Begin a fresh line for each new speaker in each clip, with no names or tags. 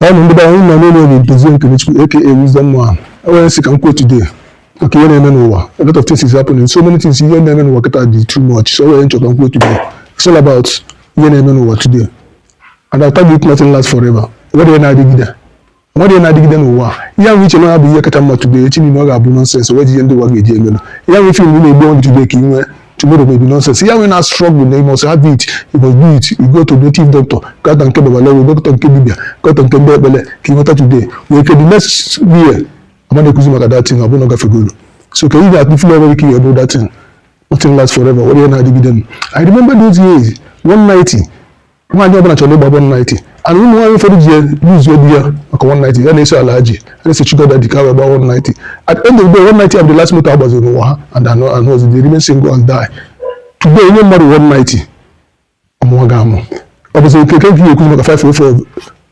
ọnụ ndị be anyị nọ n'ụlọ obi Dozie Nkenechukwu aka Wisdom Man enwere ihe m sị ka m kwuo today maka ihe na-eme n'ụwa a lot of things is happening so many things ihe na-eme n'ụwa kịta dị too much so enwere ihe m chọ ka m kwuo today it's all about ihe na-eme n'ụwa today and I tell you nothing lasts forever o nwerọ ihe na-adịgide o nwerọ ihe na-adịgide n'ụwa ihe ahụ i che na ya bụ ihe kacha mma today echi niile ọ ga-abụ nonsense wee ji ihe ndị ụwa ga-eji emelu ihe ahụ ị fụ na ị na-egbu onwe gị today ka ị nwee tomorrow may be nonsense ihe ahụ ị na struggle na you must have it you must do it you go to native doctor gata nke babalawo gata nke dibia gata nke ndị ekpele ka ị nweta today nwee ike the next year a ma na-ekwuzi maka that thing ọ bụ na ọ gafegolu so ka ị ga-atụ feel nwere ike ịbụ that thing nothing lasts forever o nwerọ ihe na-adịgide i remember those years 190 nwaanyị ọbụla chọrọ ịgba 190 and ụmụ nwaanyị ụfọdụ ji lose-uo di ya maka 190 ya na-eso alhaji ya na-eso sugar daddy ka wee gba 190 at the end of the day 190 abụ the last moto agbaziri n'ụwa ha and anọ anọ ọzọ they remain single and die today i nye mmadụ 190 ọ mụwa gị amụ ọ bụzi okeke nke ekwu maka 504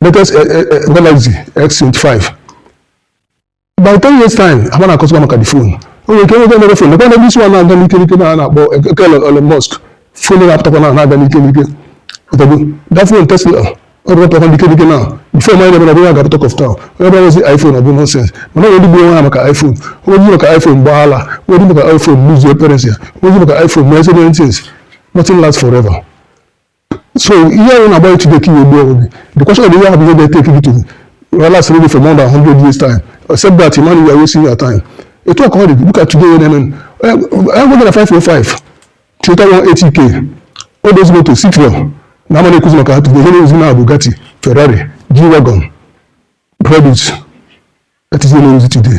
latest eh, eh, eh, Galaxy X25 by 10 years time a ma na-akọzikwa maka the phone o nwere ike nweta another phone lekwa na ndị isi nwa na-aga n'ike n'ike na a na-akpọ eke Elon Musk phone na-apụtakwa na na-aga n'ike n'ike ọtọgbu that phone Tesla ọ bụ ọpụtakwa n'ike n'ike na the phone anyị na-eme na ga talk of town onye bụla buzi iPhone ọ bụ nonsense mana o nwee ndị gburu onwe ha maka iPhone o nwee ndị maka iPhone gbaa ala o nwee ndị maka iPhone lose-uo parents ya o nwee ndị maka iPhone mee so many things nothing lasts forever so ihe ọ bụna na-agba gị today ka i nwee the question of ihe ahụ bụ ihe ga-ete aka to last really for more than 100 years time except that man you are wasting your time etu a ka ọ dị look at today na-eme enweghị na 505 Toyota 180k all those moto Citroen a ma na-ekwuzi maka ha today ihe a na-ekwuzi na Bugatti Ferrari G-Wagon Brabus that is ihe a na-ekwuzi today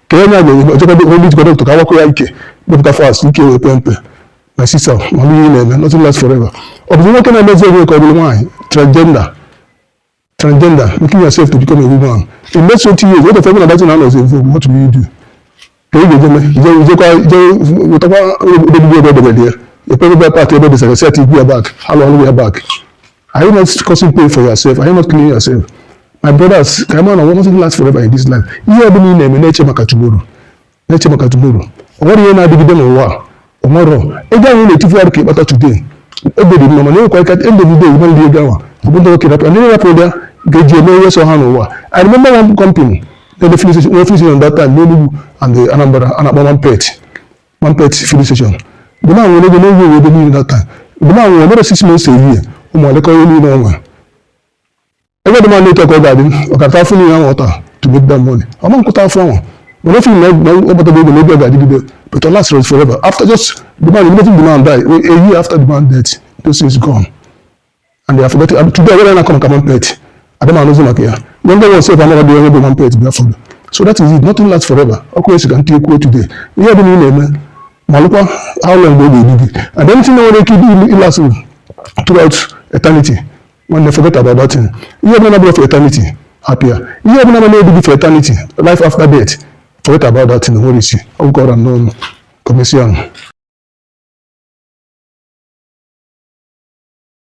ka onye a ga-enye ojekọdo onye i jekwu dọkịta ka a wakọ ya ike kpepụta fast ike wee pee mpe my sister ma ihe na-eme nothing lasts forever ọ bụzi nwoke na-emezi onwe ka ọ bụrụ nwaanyị transgender transgender making yourself to become a woman in next 20 years what if everyone that na anọzi evu what will you do ka ị ga-eje mee ije ijekwa ije wetakwa ogbogbo ebe o debere ya ekpere back ebe o desara set igbu ya back ha lụọ ọrụ ya back Are you not causing pain for yourself? Are you not killing yourself? My brothers, ka ị ma na ụwa nothing lasts forever in this life. Ihe ọ bụla ị na-eme na-eche maka tomorrow. Na-eche maka tomorrow. O nwerọ ihe na-adịgide n'ụwa a. Ọ nwere ego ahụ na-etufu arụ ka ị kpata today. Ego dị mma mana enwekwa ike at the end of the day ị ma eli ego ahụ. Ọ bụ ndị nwoke rapụ. Ndị rapụ ụdị ga-eji eme ihe sọ ha n'ụwa. I remember one company na-eme filling station that time n'Enugu and Anambra a na-akpọ one pet. One pet filling station bụ na nwere ego n'oge owe ebe niile that time bụ na nwere another six months a year ụmụ ya elekọ ihe niile ọnwa ebe the man ma na etu a ka ọ ga-adị ọ ka-ata afụfụ niile ahụ ọ ta to make that money ọ ma ka-ata afụfụ ahụ mana o feel na ọ kpatago ego n'oge ọ ga-adịgide but ọ lastịrọ forever after just the man immediately the man die a year after the man death those things gone and they are forgotten and today when a na-akọ maka one plate adam anụzi maka ya na ndị nwe sef amarọdị onye bụ one plate before so that is it nothing lasts forever okwu esi ka ntị ekwuo today ihe ọ bụla ị na-eme malụkwa how long mgbe ọ ga-edu gị and anything na-enwerọ ike ịdị ịlast throughout eternity nwanne forget about that thing ihe ọbụla na-abụrọ for eternity hapụ ya ihe ọbụla na ama-edu gị for eternity life after death forget about that thing o nwerọ isi ọ gwụkọrọ n'ọnụ commission